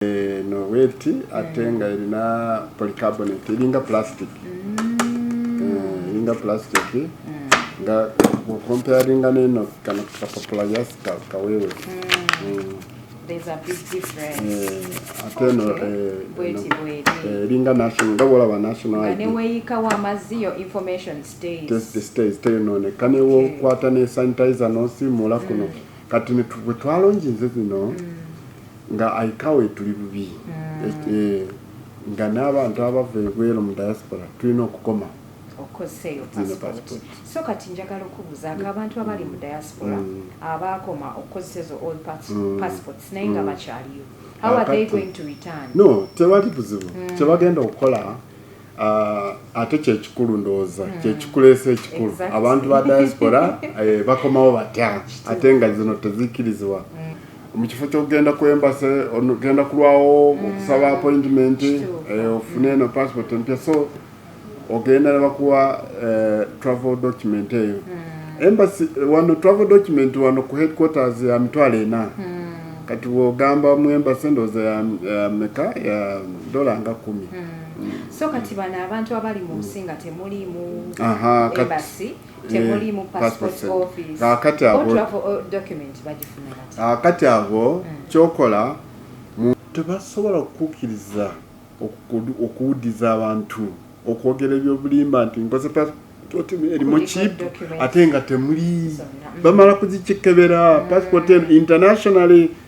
eno bweti ate nga erina polycarbonate eringa plastic mm. eh, eringa plastic mm. nga okomparinga neno kano kapapula yasi kawewe mm. Eh, ate eno eringa eh, national nga bwolaba nationalteyononeka newokwata ne sanitizer nosimula kuno kati bwetwalonginze zino mm. nga aika we tuli bubi mm. e, nga n'abantu abava ebweru mu diaspora tulina okukoma okozeeyo passport so kati njagala okubuuza nga abantu mm. abali mu diaspora mm. abaakoma okukozesa ezo all mm. passports naye nga bakyaliyo how are they going to return no tewali buzibu kyebagenda okukola Ah, ate kyekikulu ndowooza hmm. kyekikuleesa ekikulu abantu ba diaspora eh, bakomawo batya ate nga zino tezikirizibwa hmm. mu kifo kyokugenda ku embase ogenda kulwawo hmm. okusaba appointment eh, ofune eno passport empya so ogenda nebakuwa eh, travel document eyo embasi wano travel document wano ku headquarters ya mitwalo ena kati wogamba mu embasi ndowooza ya meka ya dola nga kumi so kati bano abantu abali mu nsi nga temuliimu ebasi temuliimu passport office document bagifuna ah, kati abo hmm. kyokola tebasobola okukukkiriza okuwudiza abantu okwogera ebyobulimba nti nkoze erimu chip ate nga temuli bamala kuzikikebera hmm. passport internationally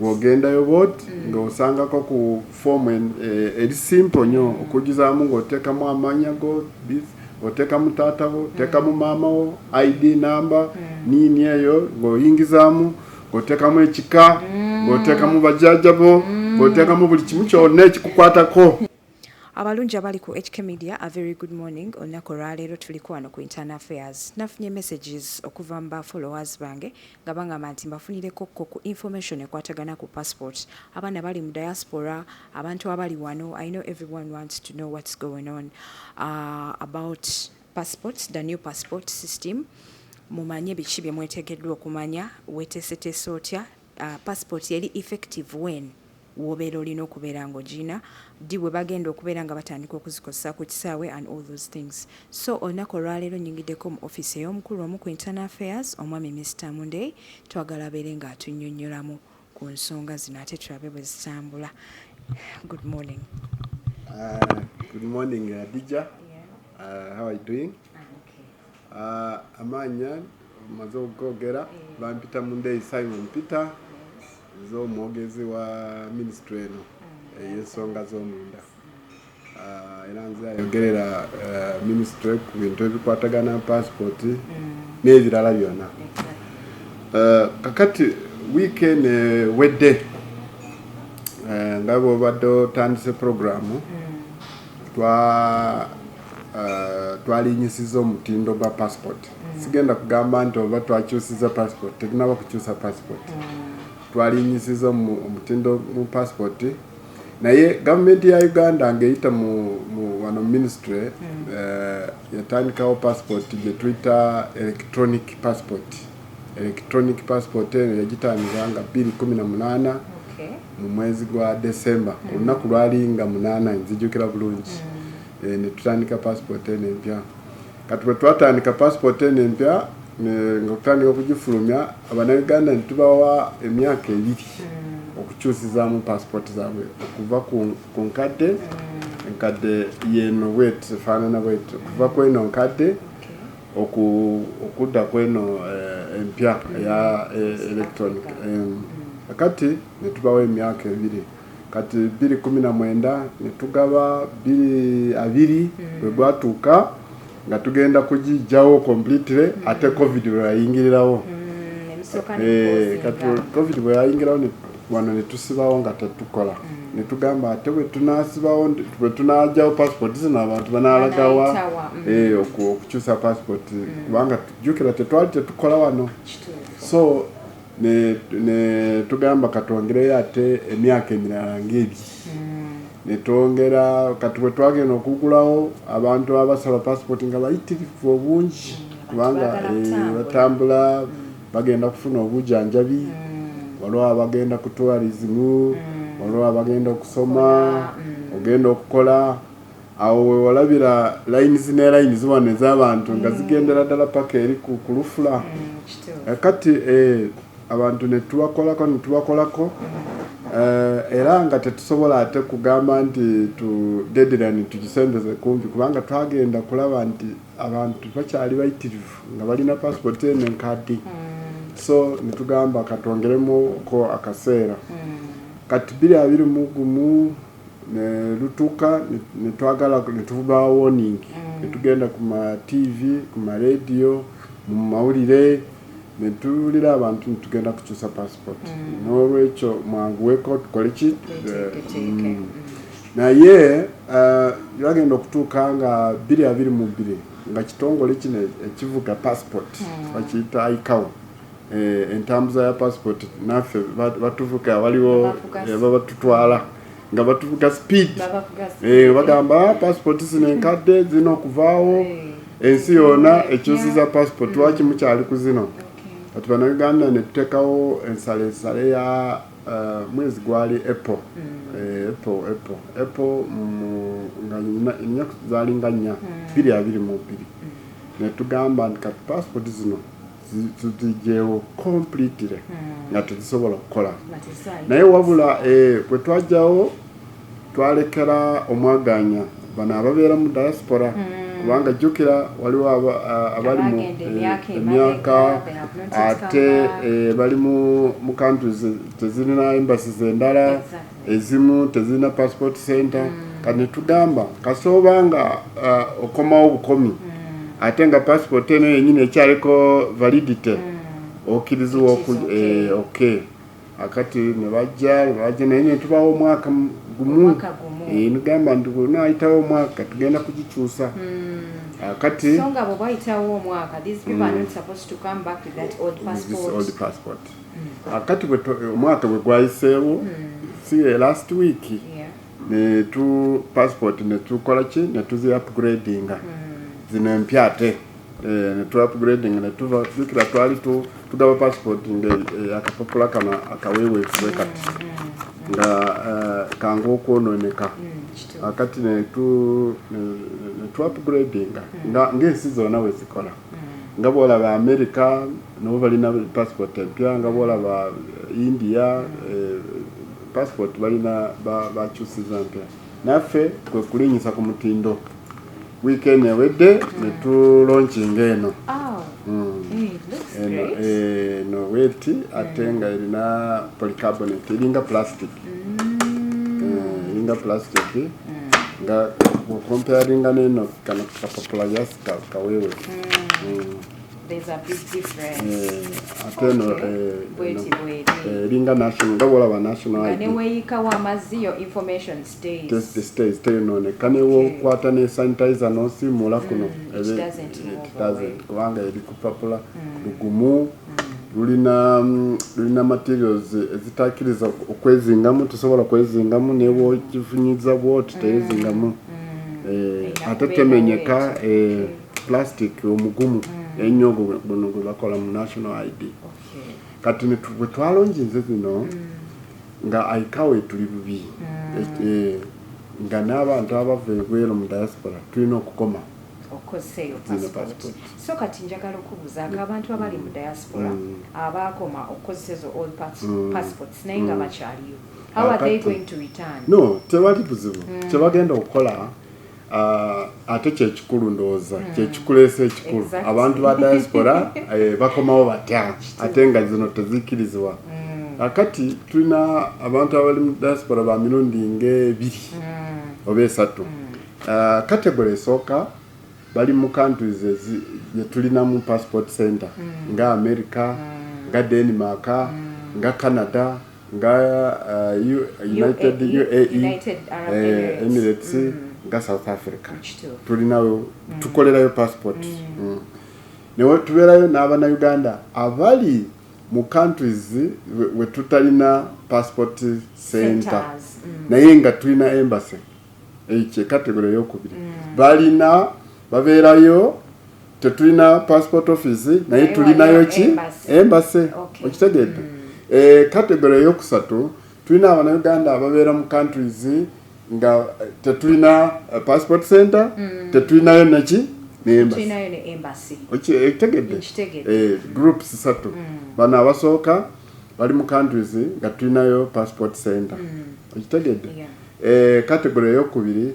bwogendayo bwoti mm. nga osangako ku form eri simple nyo mm. okujizaamu nga otekamu amanya go otekamu taata wo otekamu mm. maama wo id number mm. nini eyo ngaoyingizamu ngotekamu ekika mm. ngotekamu bajajabo mm. ngotekamu buli kimu kyona ekikukwatako Abalungi abali ku HK Media a very good morning. Olunaku olwaleero tuliko wano ku Internal Affairs. Nafunye messages okuva mu ba followers bange nga bangamba nti mbafunireko ko ku information ekwatagana ku passport. Abaana bali mu diaspora, abantu abali wano, I know everyone wants to know what's going on uh, about passports, the new passport system. Mumanye biki bye mwetegeddwa okumanya, wetesetese otya Uh, passport eri effective when wobeera olina okubeera nga ogiina ddi bwe bagenda okubeera nga batandika okuzikozesa ku kisaawe and all those things so olunaku olwaleero nyingiddeko mu office ey'omukulu omu ku internal affairs omwami mr munday twagala abeere nga atunyonyolamu ku nsonga zino ate tulabe bwe zitambula good morning uh, good morning adija uh, uh, how are you doing ah, amaanya maze okugogera eh. bampita mundeyi simon peter z'omwogezi wa minisitule eno mm. ey'ensonga z'omunda ah, era nze ayogerera eh, minisitule ku bintu ebikwatagana pasipooti mm. n'ebirala byonna eh, kakati wiiki eno ewedde eh, nga bwobadde otandise puroguramu mm. twalinyisiza omutindo gwa passport mm. sigenda kugamba nti oba twakyusiza passport tetunaba kukyusa passport mm. twalinyisiza omutindo mu passport naye gavumenti ya uganda ngaeyita mu wano ministry mm. eh, yatandikawo passport gyetuyita electronic passport Electronic passport eno yagitandika nga bbiri kumi na munaana mu mwezi gwa December ku lunaku lwali nga munaana nzijukira bulungi mm. eh, ne tutandika passport eno empya kati bwe twatandika passport eno empya nga kutandika okugifulumya abanauganda ne tubawa emyaka ebiri mm. okukyusizaamu passport zaabwe okuva ku nkadde mm. enkadde yeno bwet efaanana bwet okuva kweno nkadde Oku, okudda kweno eh, empya eya eh, electronic em, kati netubawo emyaka ebiri kati biri kumi na mwenda netugaba biri abiri bwe mm. gwatuuka nga tugenda kugijjawo completely mm. ate covid bweyayingirirawo mm, eh, kati covid bweyayingirawo wano ne tusibawo nga tetukola mm. ne tugamba ate bwe tunaasibawo bwe tunaagyawo passport zino abantu banaalagawa mm. eh, okukyusa passport mm. kubanga tujjukira tetwali tetukola wano so ne ne tugamba katwongereyo ate emyaka emirala ng'ebiri ne twongera kati bwe twagenda okugulawo abantu abasaba passport nga bayitirivu obungi kubanga eh, batambula bagenda kufuna obujanjabi mm. waliwo abagenda ku tourism mm. waliwo abagenda okusoma mm. ogenda okukola awo wewalabira lines ne lines wano ez'abantu nga mm. zigendera ddala paka eri ku kulufula mm, eh, kati eh, abantu netubakolako netubakolako Eh, era nga tetusobola ate kugamba nti tu deadline tukisembeze kumpi kubanga twagenda kulaba nti abantu bakyali bayitirivu nga balina passport eno enkadde hmm. so netugamba katwongeremuko akaseera hmm. kati biri abiri mu gumu nelutuka netwagala netuvuba warning hmm. netugenda ku ma tv ku ma radio mu mawulire netuwulira abantu netugenda kukyusa passport n'olwekyo mwanguweko tukoleki Naye byagenda uh, okutuuka nga bbiri abiri mu bbiri nga kitongole kino ekivuga passport hmm. bakiyita icao eh, entambuza ya passport naffe batuvuga waliwo eh, babatutwala nga batuvuga speed eh, bagamba ah, passport zino enkadde zirina okuvaawo ensi yona ekyusiza passport hmm. lwaki mukyali ku zino kati banauganda netutekawo ensala ensala ya Uh, mwezi gwali apple mm. eh, apple apple apple nga ennaku zalinga nnya mm. biri abiri mu biri mm. netugamba nti kati passport zino tuzijewo completely nga tezisobola kukola naye wabula eh, bwe twajjawo twalekera omwagaanya bano ababeera mu diaspora mm. kubanga jjukira waliwo abali mu emyaka eh, ate eh, bali mu countries tezirina embassies endala ezimu tezirina passport center mm. kati netugamba kasooba nga eh, okomawo bukomi mm. ate nga passport eno yenyini ekyaliko validity okiriziwa ok akati nebajja nebajja naye netubawo omwaka gumu nigamba nti bwenayitawo omwaka tugenda kugikyusa hmm. akati akati omwaka bwegwayiseewo si last week netu passport netukola ki netuzi upgradinga hmm. zino empya ate eh, netwapgrading netuva jukira twali tugaba passport nga eh, akapapula kano akawewefu we kati mm, mm, nga eh, kanga okwononeka mm, akati netwapgradinga ngaensi zona wezikola nga bolaba america nabo balina passport empya nga bolaba india passport balina bakyusiza mpya naffe kwekulinyisa ku mutindo Wiiki eno ewedde mm. ne tulonkinga eno oh. mm. eh, eno weti mm. ate nga erina polycarbonate eringa plastic eh, eringa plastic nga okomparinga neno kano kapapula yasi kawewe there's a big difference eh, ate no eh, eh, eringa national nga bwolaba national nga neweyikawo amazzi yo information teyonooneka newokwata ne sanitizer nosiimuula mm, kuno kubanga eri kupapula mm. lugumu mm. lulina lulina materials ezitakiriza okwezingamu tusobola kwezingamu newokifunyiza bwoti teyezingamu eh, ate temenyeka eh, plastic omugumu ennyo guno gwebakola mu national id kati bwetwalonginze zino nga aika we tuli bubi mm. e, nga n'abantu abava ebweru mu diaspora tulina okukoma okozeeyo passport so kati njagala okubuuza nga abantu mm. abali mu diaspora mm. abaakoma okukozesa ezo all mm. passports naye nga bakyaliyo how are they going to return no tewali buzibu kyebagenda okukola Ah, ate kyekikulu ndowooza hmm. kyekikuleesa ekikulu abantu ba diaspora eh, bakomawo batya ate nga zino tezikirizibwa hmm. kakati tulina abantu abali mu diaspora ba mirundi ngaebiri hmm. oba esatu ah, kategory esooka bali mu countries gyetulina mu passport center nga america nga denmark nga canada nga uh, U, united UAE, UAE, e, united Arab eh, Emirates, Emirates mm. nga south africa tulinayo mm. tukolerayo passport mm. mm. newe tubeerayo n'abana uganda abali mu countries we tutalina passport center mm. naye nga tulina embassy ekyo category eyokubiri mm. balina babeerayo tetulina passport office naye tulinayo ki embase okitegedde mm. eh, category eyokusatu tulina abanauganda ababeera mu countries nga eh, tetulina eh, passport center mm. tetulinayo neki ekitegedde eh, groups satu mm. bano abasooka bali mu countries nga tulinayo passport center mm. ekitegedde category eyokubiri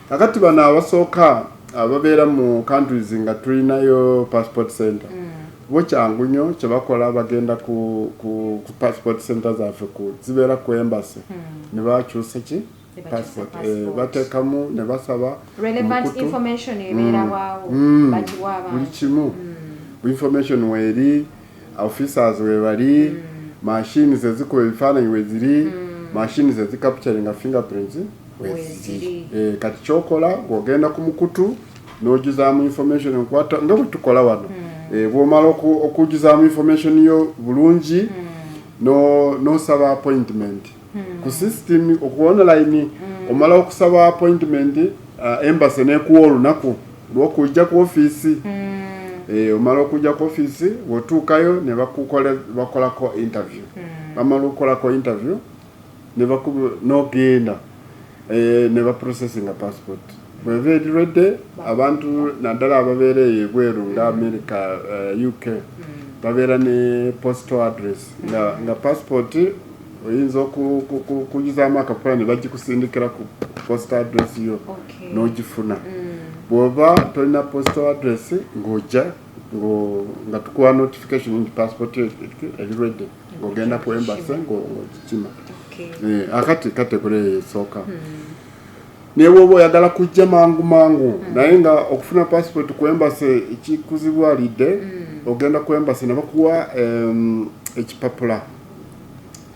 kakati bano abasooka ababeera mu countries nga tulinayo passport center mm. bo kyangu nyo kyebakola bagenda ku, ku, ku passport center zaffe ku zibeera ku embassy mm. nebakyusa ki passport eh, batekamu ne basaba relevant information ebeera mm. waawo mm. bagiwa abantu buli kimu mm. information weeri officers webali mm. machines ezikuba ebifaananyi weziri mm. machines ezicapturinga fingerprints weziri eh, kati kyokola ng'ogenda ku mukutu n'ojuzaamu information nkwata nga bwe tukola wano mm. eh, bwomala okujuzaamu information yo bulungi mm. n'osaba no appointment hmm. ku system oku online hmm. omala okusaba appointment uh, embassy nekuwa olunaku lwokujja ku office hmm. eh, omala okujja ku office wotuukayo ne bakolako interview hmm. bamala okukolako interview nogenda eh, ne baprocessinga passport bweva erirwedde abantu naddala ababeera eyo ebweru nga hmm. america uh, eh, uk hmm. babeera ne postal address nga, nga passport oyinza okuyuzaamu akapapula ne bagikusindikira ku posita address yo n'ogifuna mm. bw'oba tolina posita address ng'ojja nga tukuwa notification nti passport eri ready ng'ogenda ku embase ng'ogikima eh, akati kategore eyo esooka hmm. naye woba oyagala kujja mangu mangu hmm. naye nga okufuna passport ku embase ekikuzibwalidde hmm. ogenda ku embase ne bakuwa ekipapula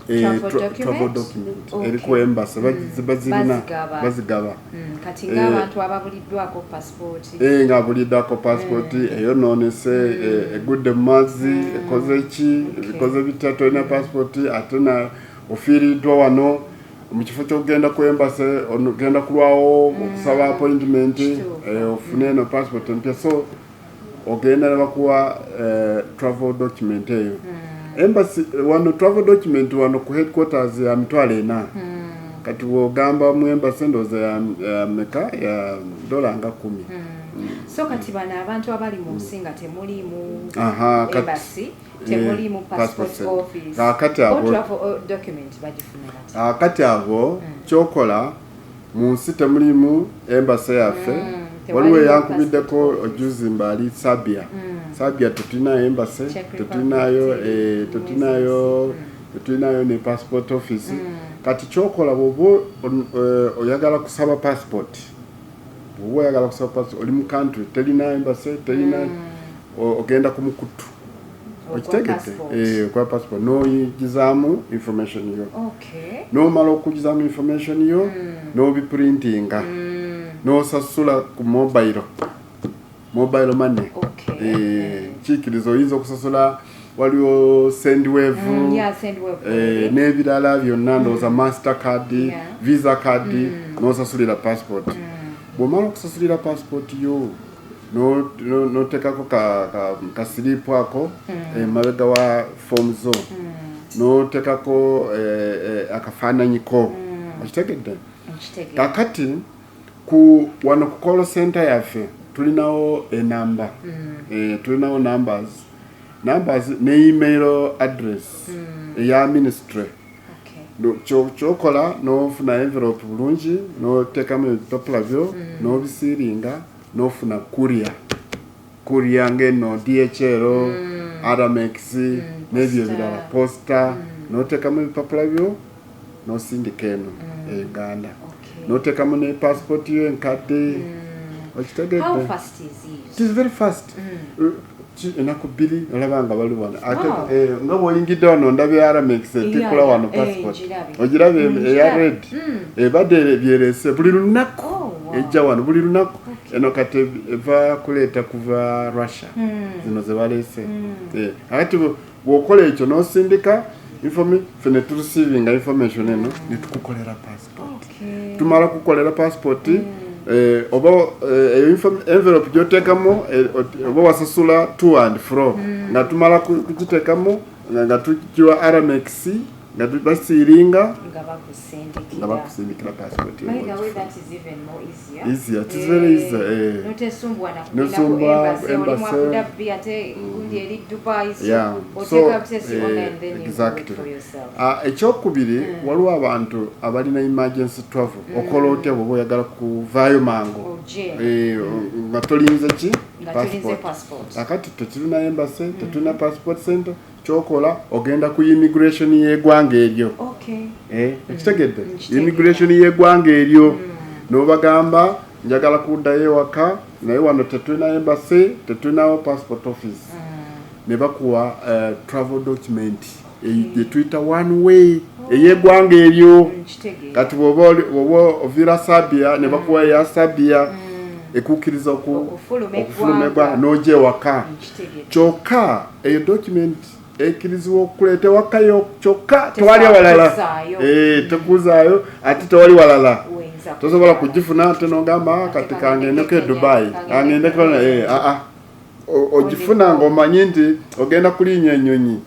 eh, travel tra- document? travel document Okay. eri ku embassy Mm. Bazi- bazirina Bazigaba. bazigaba Mm, kati Eh. ng'abantu ababuliddwako pasipooti Eh, nga buliddako pasipoti Mm. eyonoonese eh, egudde mu mazzi ekoze ki ebikoze bitya tolina pasipoti ate na ofiiriddwa wano mu kifo ky'okugenda ku embase ogenda kulwawo okusaba appointment Mm. Kituufu. Mm. eh, ofune eno pasipoti empya so ogenda nebakuwa eh, travel document eyo hmm. embassy eh, wano travel document wano ku headquarters ya mitwalo ena hmm. kati wogamba mu embassy ndooza ya meka ya dola nga kumi hmm. so kati bano abantu abali mu nsi nga temuliimu embassy temuliimu eh, passport office kakati abo kyokola mu nsi temulimu embasa yaffe mm, waliwo eyankubiddeko ojuzi mba ali sabia mm. sabia tetulinayo embase tetulinayo eh, tetulinayo mm. tetulinayo ne passport office mm. kati kyokola bwoba eh, oyagala kusaba passport bwoba oyagala kusaba passport oli mu country telina embassy telina hmm. ogenda ku mukutu okitegete eh, kwa passport noyigizamu information yo nomala okugizamu information yo hmm. nobiprintinga hmm. nosasula ku mobile mobile money eh, kikiriza oyinza okusasula waliwo sendwave mm, eh, n'ebirala byonna ndowooza mm. master card visa card mm. n'osasulira passport bw'omala okusasulira passport yo n'oteekako kasiripu ako emabega wa fomu zo n'oteekako eh, eh, akafaananyiko okitegedde kakati ku wano ku call center yaffe tulinawo enamba mm. e, tulinawo numbers numbers ne email address mm. eya ministry kyokola nofuna envelope bulungi notekamu ebipapula byo mm. nobisiringa nofuna kuria kuria ngeno dhl mm. aramex mm, nebyo ebirala posta notekamu ebipapula byo nosindika eno mm. e uganda okay. notekamu ne passport yo enkadde mm. okitegedde enaku bbiri olaba nga bali wano ate eh, nga bwoyingidde wano ndabye aramex etikula wano eh, passport ogiraba mm, eya red mm. ebadde eh, byerese buli lunaku oh, ejja wano buli lunaku eno kati eva kuleeta kuva russia mm. zino zebalese akati bwokola ekyo nosindika fe ne tureceivinga information eno ne tukukolera passport tumala kukolera passport mm. eh, oba eh, eyo envelope gyotekamu eh, oba wasasula to and fro mm. nga tumala kukitekamu nga tukiwa rmx nga basiiringa nga bakusindikira ekyokubiri hmm. waliwo abantu abalina emergency travel hmm. okola otya bwoba oyagala kuvaayo mangu oh, eh, nga tolinze ki passport akati tekirina embase tetulina hmm. passport center kyokola ogenda ku immigration yegwanga eryo eh, ekitegedde mm, immigration yegwanga eryo mm. nobagamba njagala kuddayo ewaka naye wano tetulina embassy tetulinawo passport office mm. ne bakuwa eh, travel document gyetuyita one way oh. eyegwanga eryo kati bwoba ovira sabia ne bakuwa eya sabia ekukkiriza okufuluma egwanga noja ewaka kyokka eyo document ekirizibwa okukuleeta wakayo kyokka tewali walala eh, tekuzaayo ate tewali walala tosobola kugifuna ate nogamba ah, kati kangendeko e dubai angendeko aa eh, ah, ah. ogifuna ngaomanyi nti ogenda kulinya enyonyi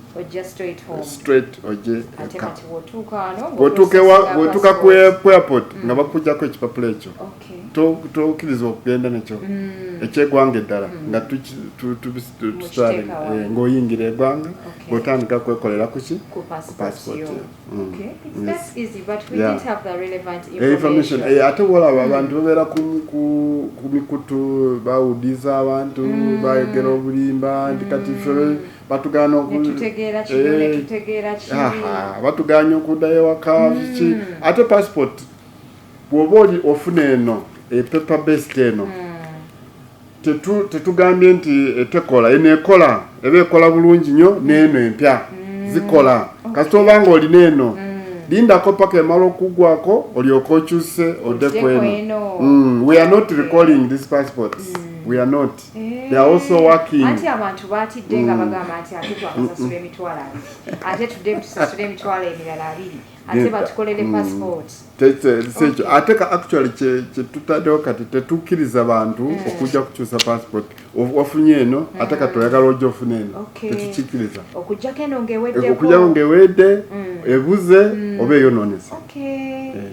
bwotuuka ku airport nga bakujjako ekipapula ekyo oh. tokiriza okugenda nekyo mm. ekyegwanga eddala mm. nga tusaling eh, ngaoyingira egwanga ngaotandika kwekolera kuki ate wolaba abantu babeera ku mikutu bawudiza abantu mm. bayogera obulimba nti kati fe batugana eh, batuganya okudayo ewaka kiki ate passport bwoba oli ofuna eno e paper based eno hmm. tetugambye nti etekola eno ekola eba ekola bulungi nyo neeno empya hmm. zikola kasita oba nga olina eno hmm. lindako paka emala okugwako olyoka okyuse ode kweno we are not recalling these passports we are not eh. they are also working anti abantu batidde nga bagamba nti ate twakasasula emitwalo abiri ate tudde tusasula emitwalo emirala abiri ate batukolere mm. passport kyekyo ate ka actually kyetutaddewo kati tetukkiriza bantu mm. okujja kukyusa passport wafunye eno mm. ate kati oyagala ojja ofuna eno tetukikkiriza okujjako eno ngewedde ebuze oba eyonoonese eh.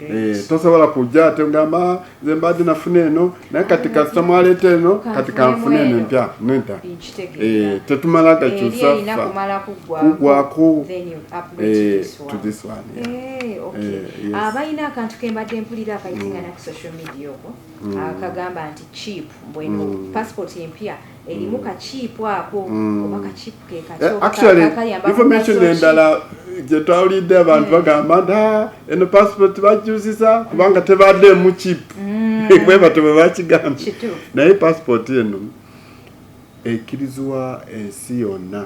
Eh, tosobola kujja ate ogamba ah, nze mbadde nafuna eno naye kati kasita mwaleeta eno kati kanfuna eno empya neda eh, tetumala gakyusa kugwako eh, abalina akantu kembadde mpulira akayitingana mm. ku social media oko mm. akagamba nti chip bweno mm. passport empya erimu kakiipu ako mm. oba kakiipu kekakyokayambainformation eh, endala gyetwawulidde abantu mm. bagamba nti ah, eno passport bajuziza kubanga tebadde mu kiipu mm. bwebato bwe bakigambye naye passport eno ekkirizibwa ensi yonna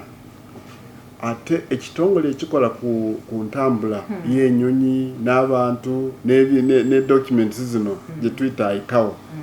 ate ekitongole ekikola ku, ku ntambula hmm. y'enyonyi n'abantu ne, ne, ne documents zino hmm. gye tuyita ikawo hmm.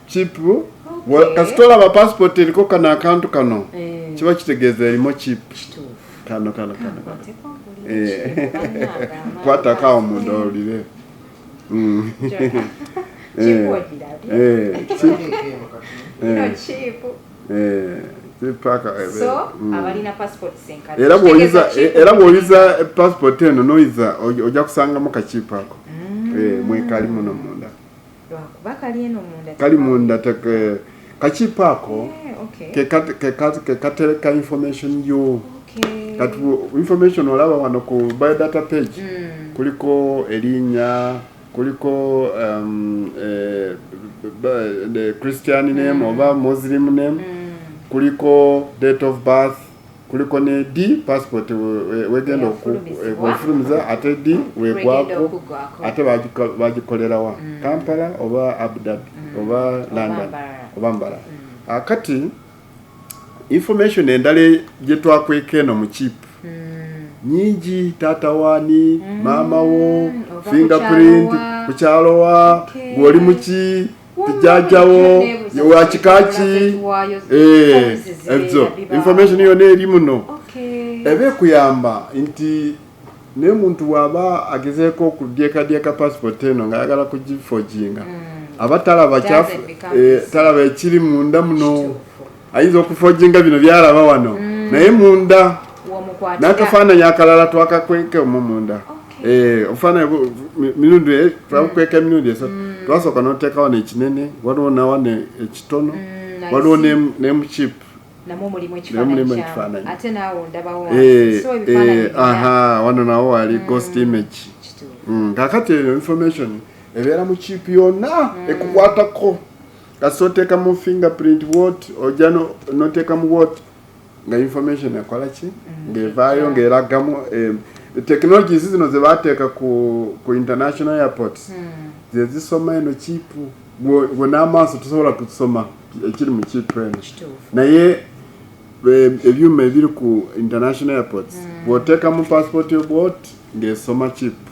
chipu okay. kasita olaba passport eriko kano akantu kano eh. kiba kitegeeza erimu chipu kano kano kano eh. kwatako awo munda owulire mm. era bwoyiza passport eno noyiza ojja kusangamu kakiipu ako mm. eh, mwekali muno munda lwakuba kali eno munda kali munda teke eh, kakipa ako kekatereka information yo kati information olaba wano ku biodata page mm. kuliko erinya kuliko um, eh, the christian name mm. oba muslim name mm. kuliko date of birth kuliko ne di passport wegenda okufulumiza ate di wegwako ate bagikolerawa mm. kampala oba abu dhabi mm. oba london oba mbala mm. ah, kati information endala gyetwakweka eno mu chip nyingi taata wani maama wo fingerprint kukyalowa gwoli muki jajjawo yewakikaki eh, ezo information yona eri muno eba ekuyamba nti naye muntu waba agezeeko okudyekadyeka passport eno nga ayagala kugifoginga mm. aba talaba eh, talaba ekiri munda muno ayinza okufojinga bino byalaba wano mm. naye munda nakafaananyi akalala twakakweka omu munda eh, ofaananyi mirundi eh, twakukweka emirundi esatu mm. twasooka noteeka wano ekinene waliwo nawana ekitono mm, waliwo nemuchip nemulimu ekifaananyi eh, aha wano nawo wali ghost image kakati eyo information ebeera mu chip yonna ekukwatako kasita oteekamu fingerprint wot ojja noteekamu wot nga information ekola ki mm. ng'evaayo ng'eragamu eh, technologies zino ze bateeka ku, ku international airports mm. ze zisoma eno kiipu gwe n'amaaso tusobola kusoma ekiri mu kiipu eno naye eh, ebyuma ebiri ku international airports mm. bw'oteekamu passport of wot ng'esoma kiipu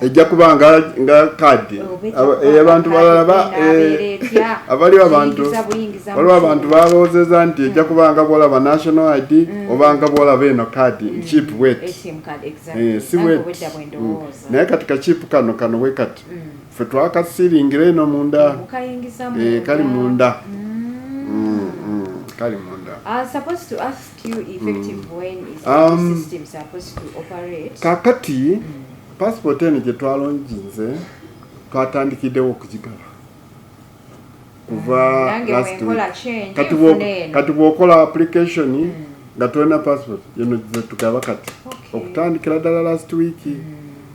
ejja kuba nga nga kadi abantu balala ba eh, abaliwo abantu waliwo abantu balowoozeza nti ejja kuba nga bwolaba national id mm. oba nga bwolaba eno kadi mm. chip wet eh, si wet mm. naye kati kachip kano kano we kati fe twakasiringira eno munda eh, kali munda kali munda ah, Um, kakati passport eno gye twalonginze twatandikiddewo okugigaba kuva mm, last week kati bwokola application mm. nga tolina passport yeno zetugaba kati okutandikira ddala last week mm.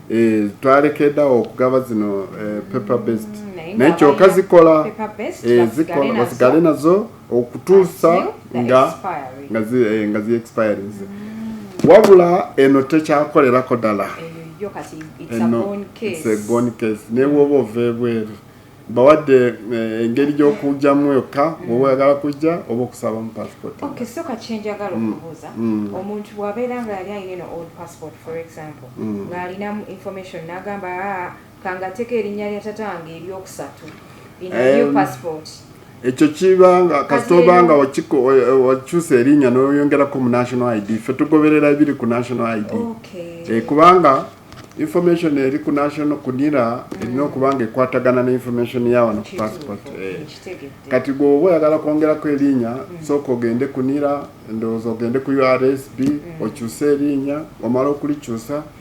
eh, twalekedawo okugaba zino eh, paper based naye kyoka zikola eh, zikola basigale nazo okutuusa nga nga zi eh, nga zi expires mm. wabula eno tekyakolerako dala eno it's a gone case ne woba ova ebweru bawadde eh, engeri gy'okujjamu yokka mm. woba oyagala kujja oba okusabamu passport okay so kakyenjagala mm. okubuuza mm. omuntu bwabeera nga yali alina eno old passport for example ng'alinamu information n'agamba ah, Kangateko erinya lya tata wange eryokusatu in a new Em, passport. ekyo kibanga Kati kasita obanga eno- wakiko- wa- wakyusa erinya noyongerako mu national id ffe tugoberera ebiri ku national id Okay. Eh, kubanga information eri ku national kunira erina okubanga ekwatagana ne information ya wano ku Kituufu, passport eh. nkitegedde. kati gweoba oyagala kwongerako erinya sooka ogende kunira ndowooza ogende ku ursb okyuse erinya omala okulikyusa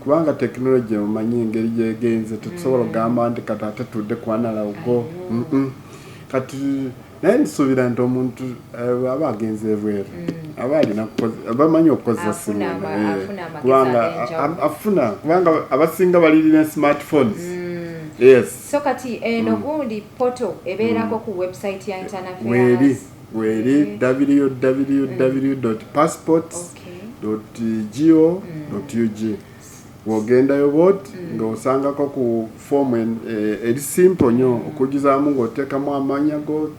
kubanga tekinologiya mumanyi engeri gyegenze tetusobola okugamba nti kati ate tudde kwanalawugo kati naye nsuubira nti omuntu eh, aba agenze ebweru mm. aba alina bamanyi okukozesa simu eh, kubanga afuna kubanga abasinga balirina smartphones mm. yes so kati eno eh, mm. gundi poto ebeerako ku website ya internafairs weeri www.passports.go.ug bwogendayo bwot nga osangako ku form e, eri simple nyo okujizaamu nga otekamu amanya go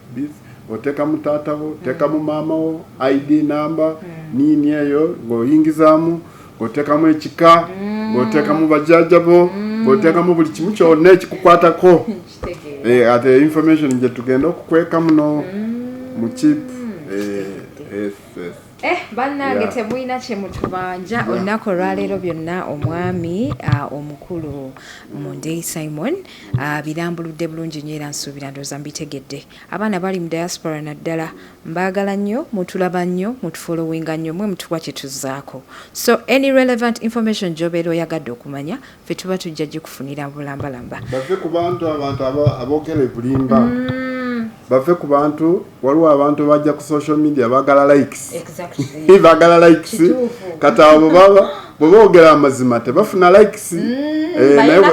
otekamu taata wo otekamu maama wo id number niini eyo nga oyingizaamu nga otekamu ekika nga otekamu bajaaja bo nga otekamu buli kimu kyona ekikukwatako eh, ate information gye tugenda okukweka muno mm. mu chip eh, yes, yes. Eh, bannange temulina kye mutubanja olunaku olwaleero byonna omwami ah, omukulu mundei simon ah, birambuludde bulungi nyo era nsuubira ndooza mbitegedde abaana bali mu diaspora naddala mbaagala nnyo mutulaba nnyo mutufolowinga nnyo mwe mutuwa kye tuzaako so any relevant information gyobeera oyagadde okumanya fe tuba tujja gikufunira bulambalamba bave ku bantu abantu abogera ebulimba mm. bave ku bantu waliwo abantu bajja ku social media bagala likes bagala likes kati abo baba bwebogera amazima tebafuna likes mm, eh,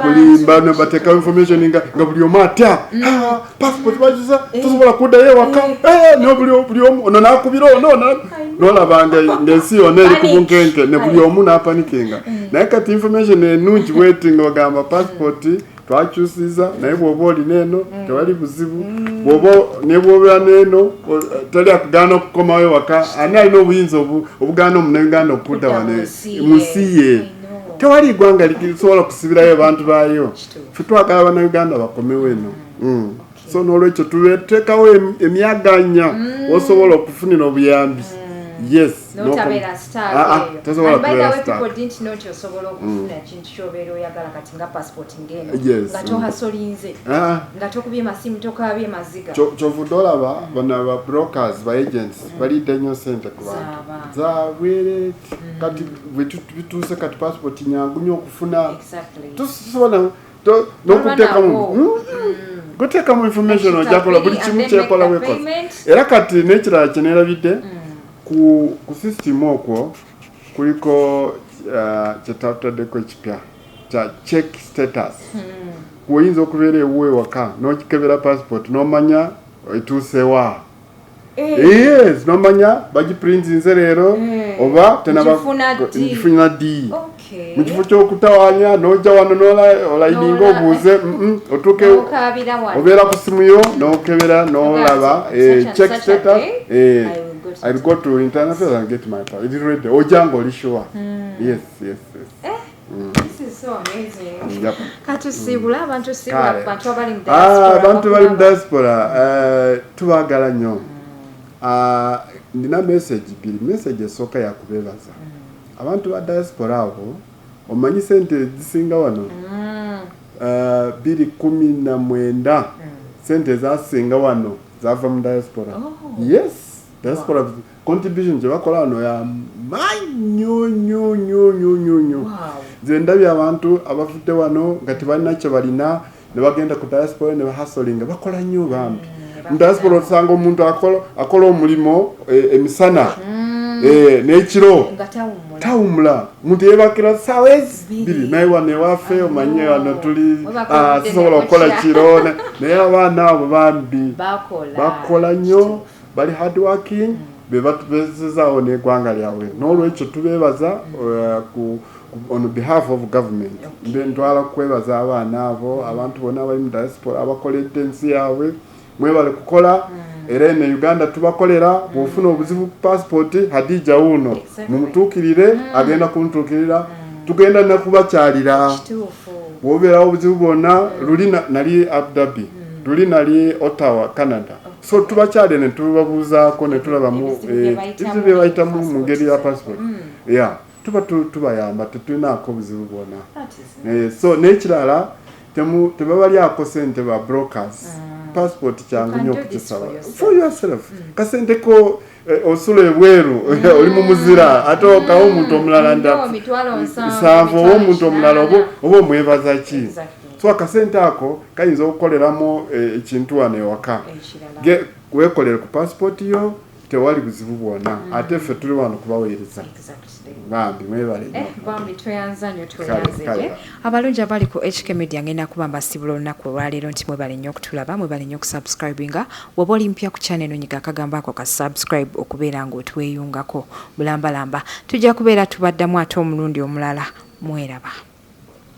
kulimba nebatekawo information nga buli omu atya mm. passport bajuza eh. tusobola kuddayo ewaka eh. eh, no buli buli omu ono nakubira ono nolaba ngaensi yona eri kubunkenke ne buli omu napanikinga naye kati information enungi bweti nga ogamba passport twakyusiza naye bwoba olina eno mm. tewali buzibu mm. bwoba nebwobera neeno tali akugaana okukomawo ewaka ani alina obuyinza obugaana omuneganda okudda wane musiye tewali igwanga lisobola kusibirayo abantu baayo fe twagala banauganda bakomewo eno mm. mm. so nolwekyo tuteekawo emyaganya mm. osobola okufunira obuyambi mm. yes kyovudde olaba bano ba brokers ba agents mm. balidde nnyo sente ku bantu zabwere kati bituuse kati passport nyangu nyo okufuna tusobola nokutekamu hmm? mm. gutekamu information ojakola buli kimu kyekola wekola era kati nekirala kyenerabidde mm. ku system okwo kuliko uh, kyetataddeko ekipya kya check status mm. oyinza okubeera ewuwe waka nokikebera passport nomanya etuusewa eh. nomanya bagipurintinze leero eh. oba tenabagifuna di mu kifo ky'okutawanya n'ojja wano nolayininga obuuze otuuke obeera ku simu yo n'okebera n'olaba eh, check status I go to internet and get my power. It is ready. Ojango Lishua. Mm. Yes, yes, yes. Eh? abantu bali mu diaspora tubagala nnyo ndina message bbiri message esooka yakubeebaza mm. abantu ba diaspora abo omanyi sente ezisinga wano mm. eh, biri kumi na mwenda mm. sente ezasinga wano zava mu diaspora oh. yes diaspora contribution gyebakola wano yamanyonyonyonyonyonyo nze ndabye abantu abavudde wano nga tebalina kyebalina nebagenda ku diaspora nebahasolinga bakola nnyo bambi mm, mu diaspora osanga omuntu akola omulimu eh, emisana mm. eh, nekiro tawumula omuntu yebakira saawa ezibiri naye wano ewaffe ah. omanye wano tuli ah, sobola okukola kiro naye abaana abo bambi bakola nnyo bali hard working mm. bebatubezezaawo n'egwanga lyabwe n'olwekyo tubebaza uh, ku on behalf of government mbe ntwala kukwebaza abaana abo mm. abantu bona abali mu diaspora abakoledde ensi yaabwe mwebale kukola mm. era eno uganda tubakolera mm. bwofuna obuzibu passport hadija wuno mumutuukirire agenda kumutuukirira tugenda nakubakyalira bwobeerawo obuzibu bwonna luli nali abdabi luli nali ottawa canada so tubakyade ne tubabuuzaako ne tulabamu ebizibu bye bayitamu eh, mu ngeri ya passport mm. ya tuba tubayamba tetulinaako buzibu bwona eh, so n'ekirala tebabalyako sente ba brokers mm. passport kyangu nyo okukisaba for yourself mm. kasente ko Eh, osula ebweru mm. oli mu muzira ate okawo omuntu omulala nsanvu oba omuntu omulala oba omwebaza ki so akasente ako kayinza okukoleramu eh, ekintu wano ewaka wekolere ku pasipoti yo tewali buzibu bwona mm. ate ffe tuli wano kubaweereza bambi mwebale eh, bambi tweyanza nyo tweyanzege abalungi abali ku hk media ngenda kuba mbasibula olunaku olwaleero nti mwebale nnyo okutulaba mwebale nnyo okusubscribinga waba oli mpya ku channel nonyiga akagamba ako ka subscribe okubeera ngaotweyungako bulambalamba tujja kubeera tubaddamu ate omulundi omulala mweraba